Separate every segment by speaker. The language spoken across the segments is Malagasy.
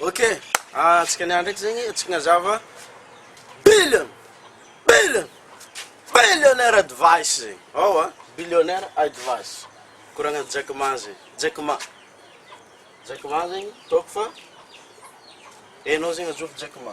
Speaker 1: Ok, antsika niany ndraiky zegny antsika nazava billion billion billionaire advice zegny ao a billionaire advice koragna Jack Ma zegny Jack Ma Jack Ma zegny ataoko fa enao zegny ajobo Jack Ma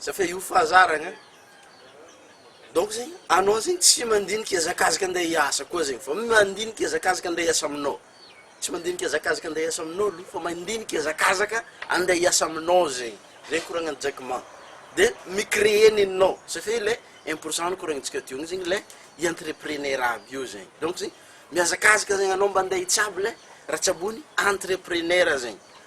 Speaker 1: Za fa io fahazaragna donc zegny anao zegny tsy mandinika hiazakazaka ande hiasa koa zegny fa mandinika hiazakazaka ande hiasa aminao tsy mandinika hiazakazaka ande hiasa aminao aloha fa mandinika hiazakazaka ande hiasa aminao zegny zay koragnan'i Jackman de mi-creer nenao satria le un pour cent nokoragnintsika teo igny zegny le i entrepreneur aby io zegny donc zegny mihazakazaka zegny anao mba ande hitsabo le raha tsaboin'ny entrepreneur zegny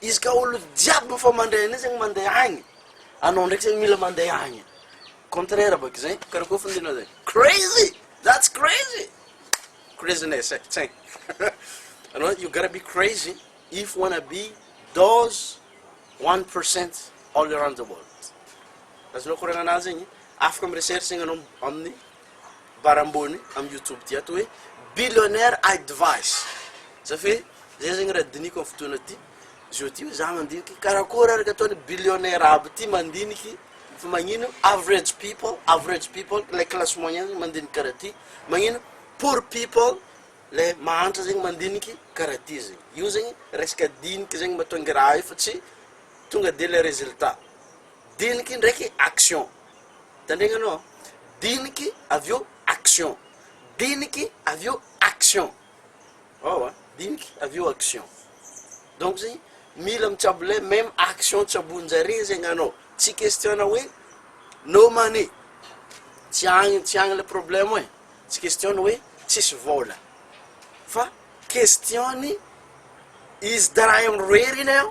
Speaker 1: Izy ka olo jiaby efa mandray anay zegny mandeha agny, anao ndraiky zegny mila mandeha agny, contraire bôka zay, karakôry fandinihana zay, crazy! That's crazy! Craziness e, tsaigny anao you gotta be crazy if you wanna be those one percent all around the world, azonao koragnana zegny, afaka mi-recherche zegny anao amin'ny. bara ambony am youtube ty ato hoe billionaire advice za fe zay zegny raha diniko am fotoana ty zao ty hoe za mandiniky karakôry ary ka ataony billionaire aby ty mandiniky fa magnino average people average people le classe moyen zegny mandiniky karaha ty magnino poor people le mahantra zegny mandiniky karaha ty zegny io zegny resaka diniky zegny matongy raha io fa tsy tonga de le resultat diniky ndraiky action Tandregnanao an! Diniky avy eo action! Diniky avy eo action! Ao an! Diniky avy eo action! Donc zegny mila mitsabo le meme action tsaboinjare zegny anao, tsy question-na hoe no money, tsy agny tsy agny le problème e, tsy question-ny hoe tsisy vôla, fa question-ny izy dra irery iny an!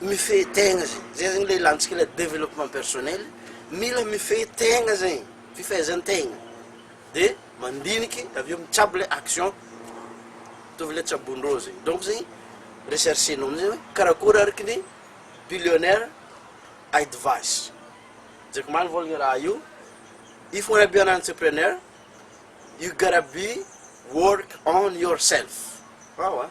Speaker 1: mifehy tegna zegny, zay zegny le ilantsika le développement personnel, mila mifehy tegna zegny, fifehezan-tegna, de mandiniky avy eo mitsabo le action, mitovy le tsabon-drô zegny, donc zegny recherche-nao amizay hoe karakôry araka ny billionaire advice, Jack Ma nivôlagna raha io, if you wanna be an entrepreneur, you gotta be work on yourself, ewa.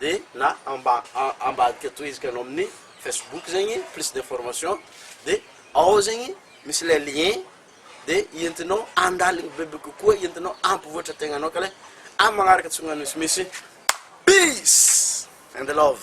Speaker 1: de na amba ambadika tohiziko anao amin'ny facebook zegny plus d'information de ao zegny misy le lien de entinao andaligny bebe kokoa entinao ampivoatra tegnanao ka le am magnaraka tsy magnano misimisy peace and love.